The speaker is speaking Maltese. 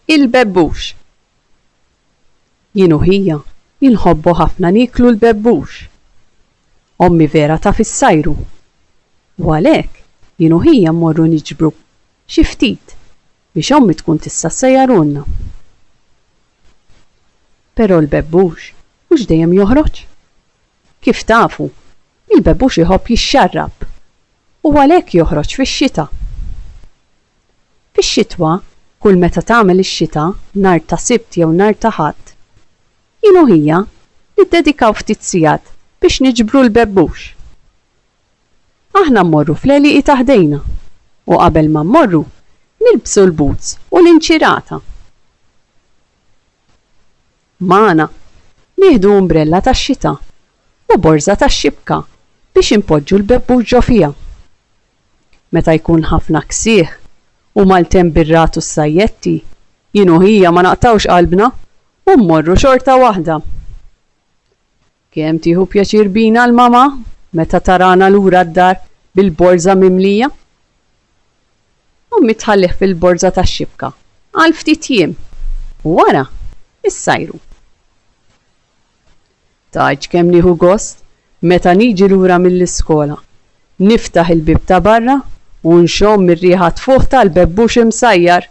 Il-bebbux. Jien u ħija inħobbu ħafna nieklu l-bebbux. Ommi vera taf issajru. U għalhekk jien u ħija mmorru niġbru xi ftit biex ommi tkun tista' ssejjarulna. Però l-bebbux mhux dejjem joħroġ. Kif tafu, il-bebux iħobb jixxarrab u għalhekk joħroġ fix-xita. Fix-xitwa, kull meta tagħmel ix-xita, nhar ta' Sibt jew nhar ta' Ħadd, jien u ħija niddedikaw ftit sigħat biex niġbru l-bebux. Aħna mmorru fl-għelieqi ta' ħdejna u qabel ma mmorru nilbsu l-boots u l-inċirata. Magħna. Nieħdu umbrella tax-xita u borża tax-xibka biex inpoġġu l-bebbux ġo fiha. Meta jkun ħafna ksieħ u maltemp bir-ragħad u s-sajjetti, jien u ħija ma naqtgħux qalbna u mmorru xorta waħda. Kemm tieħu pjaċir bina l-mama meta tarana lura d-dar bil-borża mimlija! Ommi tħallih fil-borża tax-xibka għal ftit jiem u wara issajru. Tgħidx kemm nieħu gost meta niġi lura mill-iskola, niftaħ il-bieb ta' barra u nxomm ir-riħa tfuħ tal-bebbux imsajjar!